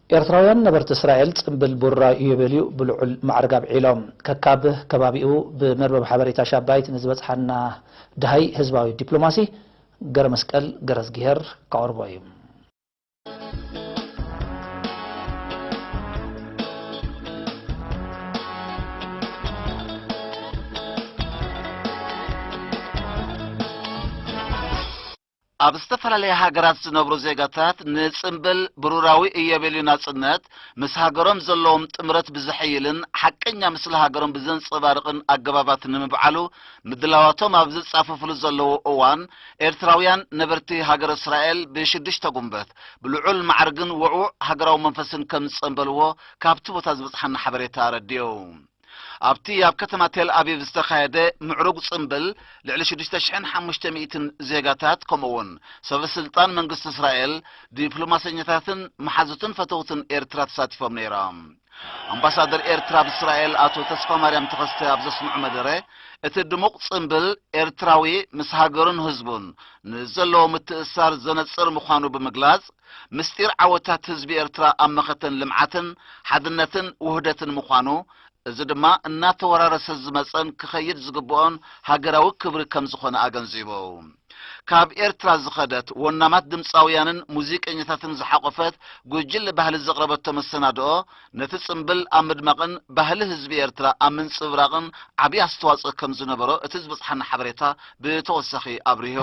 ኤርትራውያን ነበርቲ እስራኤል ጽምብል ቡራ ኢዮቤልዩ ብልዑል ማዕርግ ኣብዒሎም። ከካብ ከባቢኡ ብመርበብ ሓበሬታ ሻባይት ንዝበጽሓና ደሃይ ህዝባዊ ዲፕሎማሲ ገረመስቀል ገረዝግሄር ከቕርቦ እዩ። ኣብ ዝተፈላለያ ሃገራት ዝነብሩ ዜጋታት ንጽምብል ብሩራዊ እዮቤልዩ ናጽነት ምስ ሃገሮም ዘለዎም ጥምረት ብዘሐይልን ሓቀኛ ምስሊ ሃገሮም ብዘንጸባርቕን ኣገባባት ንምብዓሉ ምድላዋቶም ኣብ ዝጻፈፍሉ ዘለዉ እዋን ኤርትራውያን ነበርቲ ሃገረ እስራኤል ብሽዱሽተ ጉንበት ብልዑል ማዕርግን ውዕዉዕ ሃገራዊ መንፈስን ከምዝጸምበልዎ ካብቲ ቦታ ዝበጽሓና ሓበሬታ ኣረዲኡ። ኣብቲ ኣብ ከተማ ቴልኣቪቭ ዝተኻየደ ምዕሩግ ጽምብል ልዕሊ ሽዱሽተ ሽሕን ሓሙሽተ ሚእትን ዜጋታት ከምኡ'ውን ሰበስልጣን መንግስቲ እስራኤል፣ ዲፕሎማሰኛታትን መሓዙትን ፈተውትን ኤርትራ ተሳቲፎም ነይሮም። ኣምባሳደር ኤርትራ ኣብ እስራኤል ኣቶ ተስፋማርያም ተኸስተ ኣብ ዘስምዑ መደረ፣ እቲ ድሙቕ ጽምብል ኤርትራዊ ምስ ሃገሩን ህዝቡን ንዘለዎ ምትእስሳር ዘነጽር ምዃኑ ብምግላጽ፣ ምስጢር ዓወታት ህዝቢ ኤርትራ ኣብ መኸተን ልምዓትን ሓድነትን ውህደትን ምዃኑ፣ እዚ ድማ እናተወራረሰ ዝመጸን ክኸይድ ዝግብኦን ሃገራዊ ክብሪ ከምዝኾነ ኣገንዚቡ። ካብ ኤርትራ ዝኸደት ወናማት ድምጻውያንን ሙዚቀኛታትን ዝሓቖፈት ጉጅለ ባህሊ ዘቕረበቶ መሰናድኦ ነቲ ጽምብል ኣብ ምድማቕን ባህሊ ህዝቢ ኤርትራ ኣብ ምንጽብራቕን ዓቢ ኣስተዋጽኦ ከም ዝነበሮ እቲ ዝበጽሓና ሓበሬታ ብተወሳኺ ኣብሪሁ።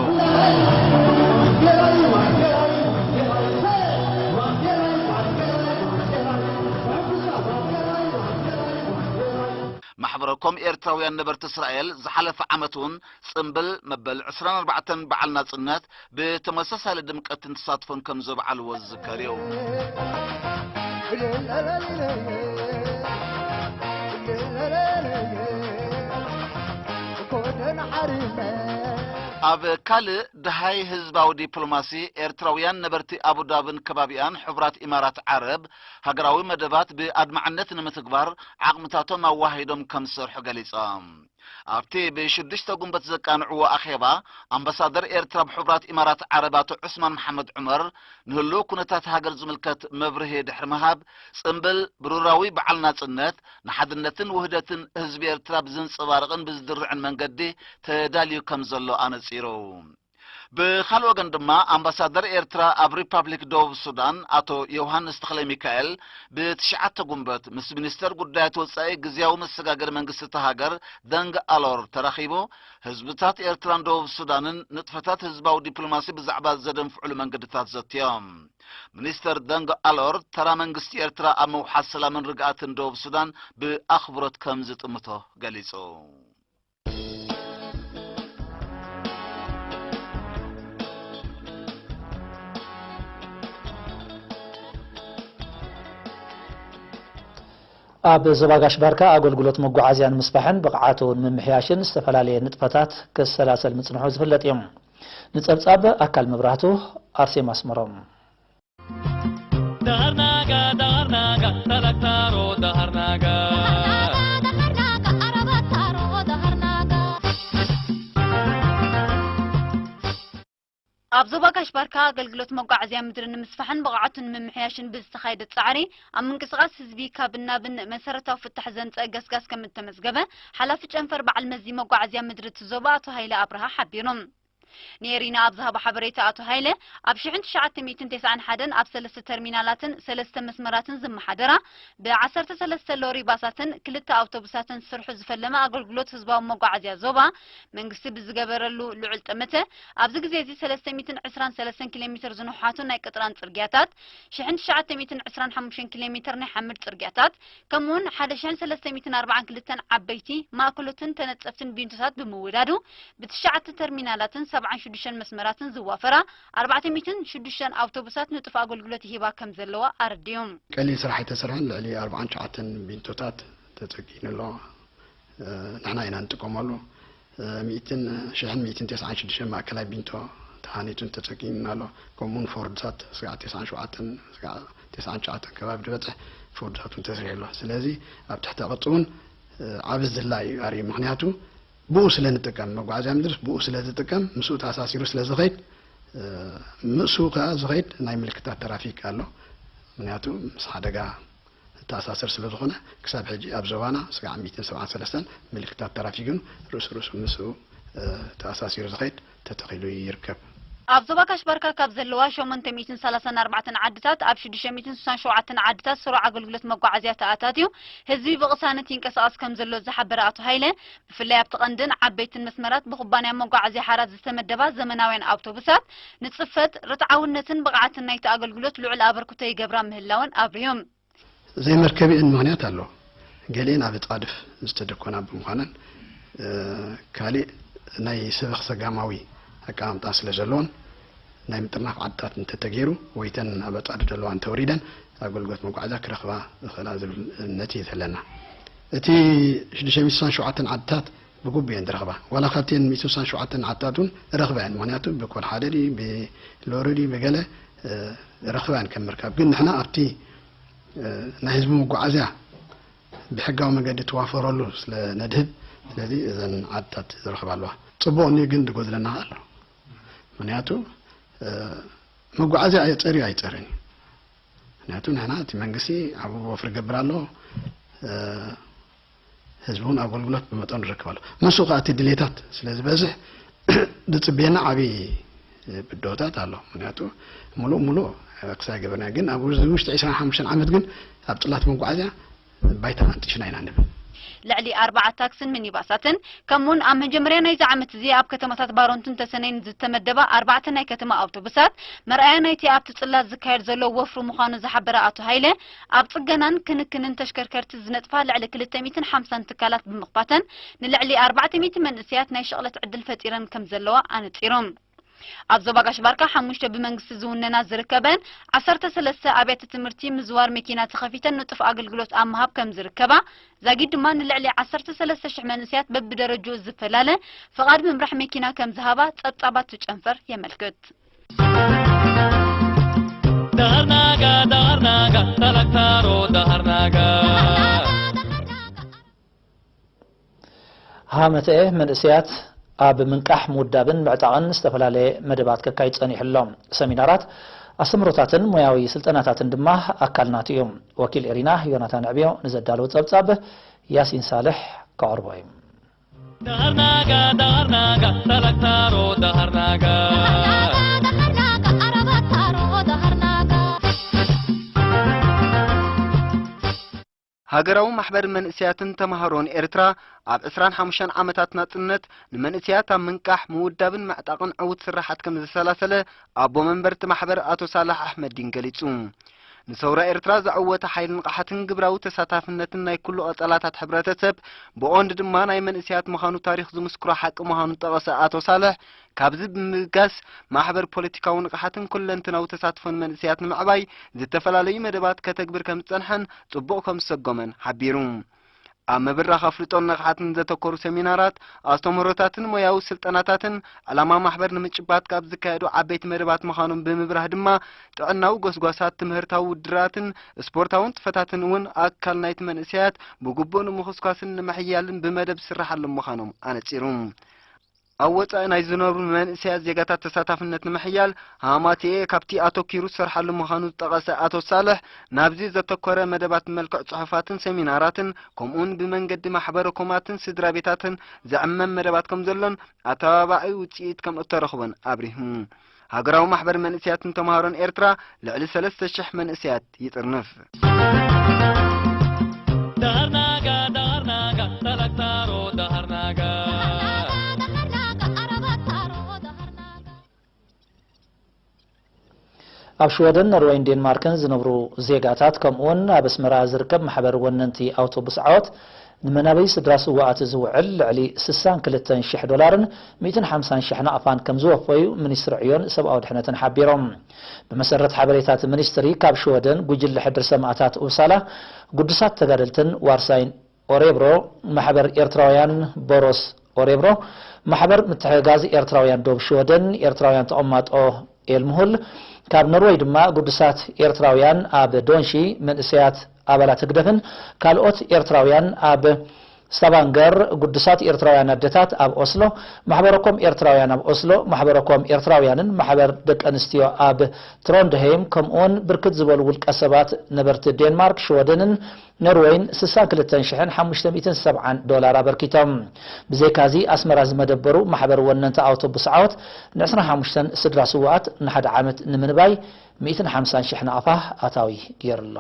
ማሕበረ ኮም ኤርትራውያን ነበርቲ እስራኤል ዝሓለፈ ዓመት'ውን ጽምብል መበል ዕስራን ኣርባዕተን በዓል ናጽነት ብተመሳሳሊ ድምቀትን ተሳትፎን ከም ዘብዓልዎ ዝዝከር እዩ። ኣብ ካልእ ድሃይ ህዝባዊ ዲፕሎማሲ ኤርትራውያን ነበርቲ ኣቡዳብን ከባቢኣን ሕቡራት ኢማራት ዓረብ ሃገራዊ መደባት ብኣድማዕነት ንምትግባር ዓቕምታቶም ኣዋሂዶም ከም ዝሰርሑ ገሊጾም። ኣብቲ ብሽዱሽተ ጉንበት ዘቃንዕዎ ኣኼባ፣ ኣምባሳደር ኤርትራ ኣብ ሕቡራት ኢማራት ዓረብ ኣቶ ዑስማን መሓመድ ዑመር፣ ንህሉው ኩነታት ሃገር ዝምልከት መብርሂ ድሕሪ ምሃብ፣ ጽምብል ብሩራዊ በዓል ናጽነት፣ ንሓድነትን ውህደትን ህዝቢ ኤርትራ ብዘንጸባርቕን ብዝድርዕን መንገዲ ተዳልዩ ከምዘሎ ኣነጺሩ። ብኻልእ ወገን ድማ ኣምባሳደር ኤርትራ ኣብ ሪፓብሊክ ደቡብ ሱዳን ኣቶ ዮውሃንስ ተኽለሚካኤል ብትሽዓተ ጉንበት ምስ ሚኒስተር ጉዳያት ወጻኢ ግዝያዊ መሰጋገሪ መንግስቲ እታ ሃገር ደንግ ኣሎር ተራኺቡ ህዝብታት ኤርትራን ደቡብ ሱዳንን ንጥፈታት ህዝባዊ ዲፕሎማሲ ብዛዕባ ዘደንፍዑሉ መንገድታት ዘትዮም። ሚኒስተር ደንግ ኣሎር ተራ መንግስቲ ኤርትራ ኣብ ምውሓስ ሰላምን ርግኣትን ደቡብ ሱዳን ብኣኽብሮት ከም ዝጥምቶ ገሊጹ። ኣብ ዞባ ጋሽ ባርካ ኣገልግሎት መጓዓዝያ ንምስፋሕን ብቕዓቱ ንምምሕያሽን ዝተፈላለየ ንጥፈታት ክሰላሰል ምጽንሑ ዝፍለጥ እዩ። ንጸብጻብ ኣካል መብራህቱ ኣርሴማ ኣስመሮም ኣብ ዞባ ጋሽ ባርካ ኣገልግሎት መጓዓዝያ ምድሪ ንምስፋሕን ብቕዓቱ ንምምሕያሽን ብዝተኻየደ ጻዕሪ ኣብ ምንቅስቓስ ህዝቢ ካብን ናብን መሰረታዊ ፍታሕ ዘምጸአ ገስጋስ ከም እተመዝገበ ሓላፊ ጨንፈር በዓል መዚ መጓዓዝያ ምድሪ እቲ ዞባ ኣቶ ሃይለ ኣብርሃ ሓቢሩ። ንኤሪና ኣብ ዝሃቦ ሓበሬታ ኣቶ ሃይለ፣ ኣብ ሽሕን ትሽዓተ ሚእትን ቴስዓን ሓደን ኣብ ሰለስተ ተርሚናላትን ሰለስተ መስመራትን ዝመሓደራ ብ ዓሰርተ ሰለስተ ሎሪ ባሳትን ክልተ ኣውቶቡሳትን ዝስርሑ ዝፈለመ ኣገልግሎት ህዝባዊ መጓዓዝያ ዞባ መንግስቲ ብዝገበረሉ ልዑል ጠመተ ኣብዚ ግዜ'ዚ ሰለስተ ሚእትን ዕስራን ሰለስተን ኪሎሜትር ዝንውሓቱ ናይ ቅጥራን ጽርግያታት ሽሕን ትሽዓተ ሚእትን ዕስራን ሓሙሽተን ኪሎሜትር ናይ ሓመድ ጽርግያታት ከምኡውን ሓደ ሽሕን ሰለስተ ሚእትን ኣርብዓን ክልተን ዓበይቲ፣ ማእከሎትን ተነጸፍትን ቢንቶታት ብምውዳዱ፣ ብትሽዓተ ተርሚናላትን ሰብዓን ሽዱሽተን መስመራትን ዝዋፈራ ኣርባዕተ ሚእትን ሽዱሽተን ኣውቶቡሳት ንጡፍ ኣገልግሎት ይህባ ከም ዘለዋ ኣረዲኡ። ቀሊል ስራሕ ኣይተሰርሐን፣ ልዕሊ ኣርብዓን ትሽዓተን ቢንቶታት ተጸጊኑ ኣሎ፣ ንሕና ኢና እንጥቀመሉ፣ ሚእትን ሽሕን ሚእትን ቴስዓን ሽዱሽተን ማእከላይ ቢንቶ ተሃኒጹን ተጸጊኑን ኣሎ። ከምኡውን ፎርድሳት ስጋዕ ቴስዓን ሸውዓተን ስጋዕ ቴስዓን ትሽዓተን ከባቢ ድበጽሕ ፎርድሳት እውን ተስሪሑ ኣሎ። ስለዚ ኣብ ትሕተ ቅርጺ እውን ዓቢ ዝላ እዩ ኣርዩ። ምክንያቱ ብኡ ስለ ንጥቀም፣ መጓዓዝያ ምድርስ ብኡ ስለ ዝጥቀም ምስኡ ተኣሳሲሩ ስለ ዝኸይድ ምእሱ ከኣ ዝኸይድ ናይ ምልክታት ተራፊክ ኣሎ። ምክንያቱ ምስ ሓደጋ ዝተኣሳሰር ስለዝኾነ ክሳብ ሕጂ ኣብ ዞባና ስጋዕ ሚእትን ሰብዓን ሰለስተን ምልክታት ተራፊግን ርእሱ ርእሱ ምስኡ ተኣሳሲሩ ዝኸይድ ተተኺሉ ይርከብ። ኣብ ዞባ ካሽ ባርካ ካብ ዘለዋ ሸሞንተ ሚእትን ሰላሳን ኣርባዕተን ዓድታት ኣብ ሽዱሽተ ሚእትን ስሳን ሸውዓተን ዓድታት ስሩዕ ኣገልግሎት መጓዓዝያ ተኣታትዩ ህዝቢ ብቕሳነት ይንቀሳቐስ ከምዘሎ ዝሓበረ ኣቶ ሃይለ፣ ብፍላይ ኣብቲ ቀንድን ዓበይትን መስመራት ብኩባንያ መጓዓዝያ ሓራት ዝተመደባ ዘመናውያን ኣውቶቡሳት ንፅፈት፣ ርትዓውነትን ብቕዓትን ናይቲ ኣገልግሎት ልዑል ኣበርክቶ ይገብራ ምህላወን ኣብሪሆም። ዘይመርከቢኤን ምኽንያት ኣሎ። ገሊኤን ኣብ እፃድፍ ዝተደኮና ብምዃነን ካሊእ ናይ ሰበኽ ሰጋማዊ ኣቀማምጣ ስለዘለዎን ናይ ምጥርናፍ ዓድታት እንተተገይሩ ወይ እተን ኣብ ኣፃድፍ ዘለዋ እንተወሪደን ኣገልግሎት መጓዓዝያ ክረኽባ ይኽእላ ዝብል እምነት እዩ ዘለና። እቲ ሽዱሽተ ሚእቲ ስሳን ሸውዓተን ዓድታት ብጉቡእ እየን ዝረኽባ። ዋላ ካብተን ሚእቲ ስሳን ሸውዓተን ዓድታት እውን ይረኽባ እየን። ምኽንያቱ ብኮድ ሓደ ድዩ ብሎሪ ድዩ ብገለ ይረኽባ እየን ከም ምርካብ። ግን ንሕና ኣብቲ ናይ ህዝቢ መጓዓዝያ ብሕጋዊ መገዲ ትዋፈረሉ ስለ ነድህብ ስለዚ እዘን ዓድታት ዝረኽባ ኣለዋ። ፅቡቕ እንድዩ ግን ዝጎድለና ከኣ ኣሎ። ምኽንያቱ መጓዓዝያ ኣየፀርዩ ኣይፀርን እዩ። ምክንያቱ ንሕና እቲ መንግስቲ ኣብኡ ወፍሪ ይገብር ኣሎ ህዝቢ እውን ኣገልግሎት ብመጠኑ ይረክብ ኣሎ ምስ ከዓ እቲ ድሌታት ስለ ዝበዝሕ ዝፅበየና ዓብዪ ብድሆታት ኣሎ ምክንያቱ ሙሉእ ሙሉእ ክሳይ ገበርና ግን ኣብ ውሽጢ 25 ዓመት ግን ኣብ ፅላት መጓዓዝያ ባይታ ፈትሽና ኢና ንብል። ልዕሊ ኣርባዓ ታክስን ሚኒባሳትን ከምኡውን ኣብ መጀመርያ ናይዚ ዓመት እዚ ኣብ ከተማታት ባሮንትን ተሰነይን ዝተመደባ ኣርባዕተ ናይ ከተማ ኣውቶቡሳት መርኣያ ናይቲ ኣብቲ ጽላት ዝካየድ ዘሎ ወፍሪ ምዃኑ ዝሓበረ ኣቶ ሃይለ ኣብ ጽገናን ክንክንን ተሽከርከርቲ ዝነጥፋ ልዕሊ ክልተ ሚእትን ሓምሳን ትካላት ብምኽፋተን ንልዕሊ ኣርባዕተ ሚእቲ መንእሰያት ናይ ሽቕለት ዕድል ፈጢረን ከምዘለዋ ኣነጺሮም። ኣብ ዞባ ጋሽ-ባርካ ሓሙሽተ ብመንግስቲ ዝውነና ዝርከበን ዓሰርተ ሰለስተ ኣብያተ ትምህርቲ ምዝዋር መኪና ተኸፊተን ንጡፍ ኣገልግሎት ኣብ ምሃብ ከም ዝርከባ፣ ዛጊድ ድማ ንልዕሊ ዓሰርተ ሰለስተ ሽሕ መንእሰያት በብደረጅኡ ዝፈላለ ፍቓድ ምምራሕ መኪና ከም ዝሃባ ጸብጻባት እቲ ጨንፈር የመልክት። ሃመተኤ መንእሰያት ኣብ ምንቃሕ፣ ምውዳብን ምዕጣቕን ዝተፈላለየ መደባት ከካይድ ጸኒሑ ኣሎ። ሰሚናራት፣ ኣስተምህሮታትን ሞያዊ ስልጠናታትን ድማ ኣካል ናቱ እዩ። ወኪል ኤሪና ዮናታን ኣዕብዮ ንዘዳለዎ ጸብጻብ ያሲን ሳልሕ ከቕርቦ እዩ። ሃገራዊ ማሕበር መንእሰያትን ተማሃሮን ኤርትራ ኣብ ዕስራን ሓሙሽተን ዓመታት ናጽነት ንመንእሰያት ኣብ ምንቃሕ፣ ምውዳብን ምዕጣቕን ዕዉት ስርሓት ከም ዘሰላሰለ ኣቦ መንበር'ቲ ማሕበር ኣቶ ሳላሕ ኣሕመዲን ገሊጹ። ንሰውራ ኤርትራ ዘዐወተ ሓይል ንቕሓትን ግብራዊ ተሳታፍነትን ናይ ኩሉ ቀጸላታት ሕብረተሰብ ብቐንዱ ድማ ናይ መንእሰያት ምዃኑ ታሪኽ ዝምስክሮ ሓቂ ምዃኑ ዝጠቐሰ ኣቶ ሳልሕ ካብዚ ብምብጋስ ማሕበር ፖለቲካዊ ንቕሓትን ኩለንትናዊ ተሳትፎን መንእሰያት ንምዕባይ ዝተፈላለዩ መደባት ከተግብር ከም ዝጸንሐን ጽቡቕ ከም ዝሰጎመን ሓቢሩ። ኣብ ምብራኽ ኣፍልጦን ንቕሓትን ዘተኮሩ ሰሚናራት፣ ኣስተምህሮታትን ሞያዊ ስልጠናታትን ዕላማ ማሕበር ንምጭባት ካብ ዝካየዱ ዓበይቲ መደባት ምዃኖም ብምብራህ ድማ ጥዕናዊ ጎስጓሳት፣ ትምህርታዊ ውድድራትን ስፖርታዊ ንጥፈታትን እውን ኣካል ናይቲ መንእሰያት ብግቡእ ንምኹስኳስን ንምሕያልን ብመደብ ዝስራሓሎም ምዃኖም ኣነጺሩ። ኣብ ወጻኢ ናይ ዝነብሩ መንእሰያት ዜጋታት ተሳታፍነት ንምሕያል ሃማትኤ ካብቲ ኣተኪሩ ዝሰርሓሉ ምዃኑ ዝጠቐሰ ኣቶ ሳልሕ ናብዚ ዘተኮረ መደባት ብመልክዕ ጽሑፋትን ሰሚናራትን ከምኡውን ብመንገዲ ማሕበረ ኮማትን ስድራ ቤታትን ዝዕመም መደባት ከም ዘሎን ኣተባባዒ ውጽኢት ከም እተረኽቦን ኣብሪሁ። ሃገራዊ ማሕበር መንእሰያትን ተምሃሮን ኤርትራ ልዕሊ ሰለስተ ሽሕ መንእሰያት ይጥርንፍ። ኣብ ሽወደን ኖርወይን ዴንማርክን ዝነብሩ ዜጋታት ከምኡውን ኣብ ኣስመራ ዝርከብ ማሕበር ወነንቲ ኣውቶቡስ ዓወት ንመናበይ ስድራ ስውኣት ዝውዕል ልዕሊ ስሳን ክልተን ሽሕ ዶላርን ሚእትን ሓምሳን ሽሕ ናቕፋን ከምዝወፈዩ ሚኒስትሪ ዕዮን ሰብኣዊ ድሕነትን ሓቢሮም። ብመሰረት ሓበሬታ እቲ ሚኒስትሪ ካብ ሽወደን ጉጅለ ሕድሪ ሰማእታት ኡፕሳላ ግዱሳት ተጋደልትን ዋርሳይን ኦሬብሮ ማሕበር ኤርትራውያን ቦሮስ ኦሬብሮ ማሕበር ምትሕግጋዝ ኤርትራውያን ዶብ ሽወደን ኤርትራውያን ተቐማጦ ኤልምሁል ካብ ኖርወይ ድማ ጉዱሳት ኤርትራውያን ኣብ ዶንሺ መንእሰያት ኣባላት ህግደፍን ካልኦት ኤርትራውያን ኣብ ስታቫንገር ጉዱሳት ኤርትራውያን ኣደታት ኣብ ኦስሎ ማሕበረ ኮም ኤርትራውያን ኣብ ኦስሎ ማሕበረ ኮም ኤርትራውያንን ማሕበር ደቂ ኣንስትዮ ኣብ ትሮንድሀይም ከምኡውን ብርክት ዝበሉ ውልቀሰባት ነበርቲ ዴንማርክ ሽወደንን ኖርወይን ስሳ ክልተን ሽሕን ሓሙሽተ ሚእትን ሰብዓን ዶላር ኣበርኪቶም። ብዘይካዚ ኣስመራ ዝመደበሩ ማሕበር ወነንቲ ኣውቶቡስ ዓወት ን ዕስራን ሓሙሽተን ስድራ ስውኣት ን ሓደ ዓመት ንምንባይ ሚእትን ሓምሳን ሽሕ ናቕፋ ኣታዊ ጌሩ'ሎ።